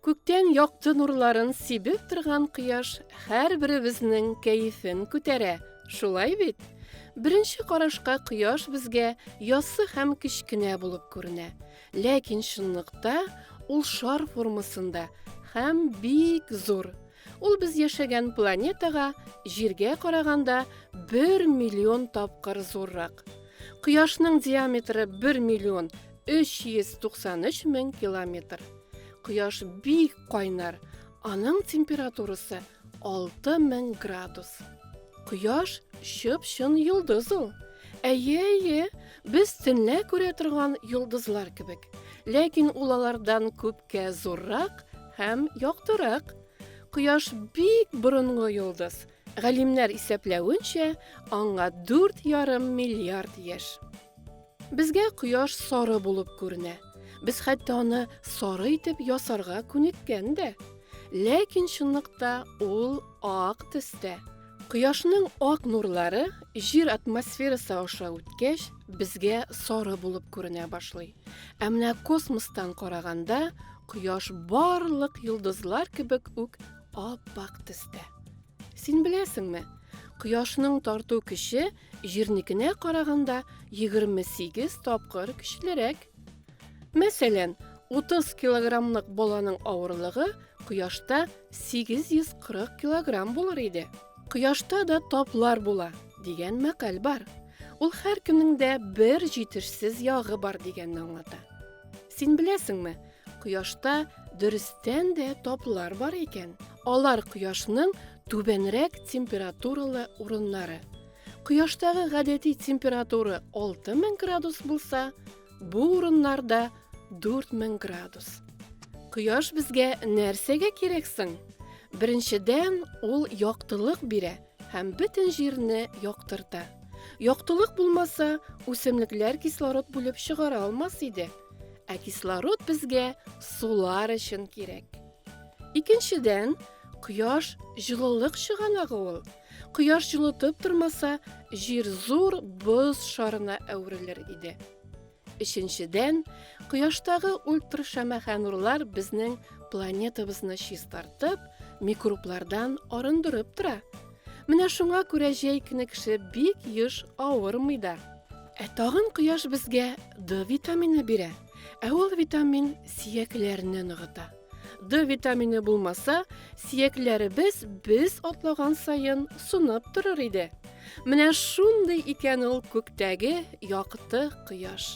Күктән якты нурларын сибеп торган кояш һәрберебезнең кәефен күтәрә. Шулай бит? Беренче карашка кояш безгә яссы һәм кечкенә булып күренә. Ләкин чынлыкта ул шар формасында һәм бик зур. Ул без яшәгән планетага, Җиргә караганда, бер миллион тапкыр зуррак. Кояшның диаметры бер миллион 393 мең километр. Кояш бик кайнар, аның температурасы 6000 градус. Кояш чып-чын йолдыз ул. Әйе, әйе, без төнлә күрә торган йолдызлар кебек. Ләкин ул алардан күп Кә зуррак һәм яктырак. Кояш бик борынгы йолдыз. Галимнәр исәпләвенчә, аңа дүрт ярым миллиард яшь. Безгә кояш сары булып күренә. Без хәтта аны сары итеп ясарга күнеккән дә. Ләкин чынлыкта ул ак төстә. Кояшның ак нурлары җир атмосферасы аша үткәч, безгә сары булып күренә башлый. Ә менә космостан караганда кояш барлык йолдызлар кебек үк ап-ак төстә. Син беләсеңме? Кояшның тарту көче җирникенә караганда 28 тапкыр көчлерәк. Мәсәлән, 30 килограммлык баланың авырлыгы кояшта 840 килограмм булыр иде. Кояшта да таплар була дигән мәкаль бар. Ул һәркемнең дә бер җитешсез ягы бар дигәнне аңлата. Син беләсеңме, кояшта дөрестән дә таплар бар икән. Алар кояшның түбәнрәк температуралы урыннары. Кояштагы гадәти температура 6000 градус булса, бу урыннарда 4000 градус. Кояш безгә нәрсәгә кирәк соң? Беренчедән, ул яктылык бирә – Һәм бөтен җирне яктырта. Яктылык булмаса, үсемлекләр кислород бүлеп чыгара алмас иде. Ә кислород безгә сулар өчен кирәк. Икенчедән, кояш җылылык чыганагы ул. Кояш җылытып тормаса, җир зур боз шарына әверелер иде. Өченчедән, кояштагы ультрашәмәхә нурлар безнең планетабызны чистартып, микроблардан арындырып тора. Менә шуңа күрә җәй көне кеше бик еш авырмый да. Ә тагын кояш безгә D витамины бирә, ә ул витамин сөякләрне ныгыта. Д витамины булмаса, сиякләребез без атлаган саен сунып торыр иде. Менә шундый икән ул күктәге якты кояш.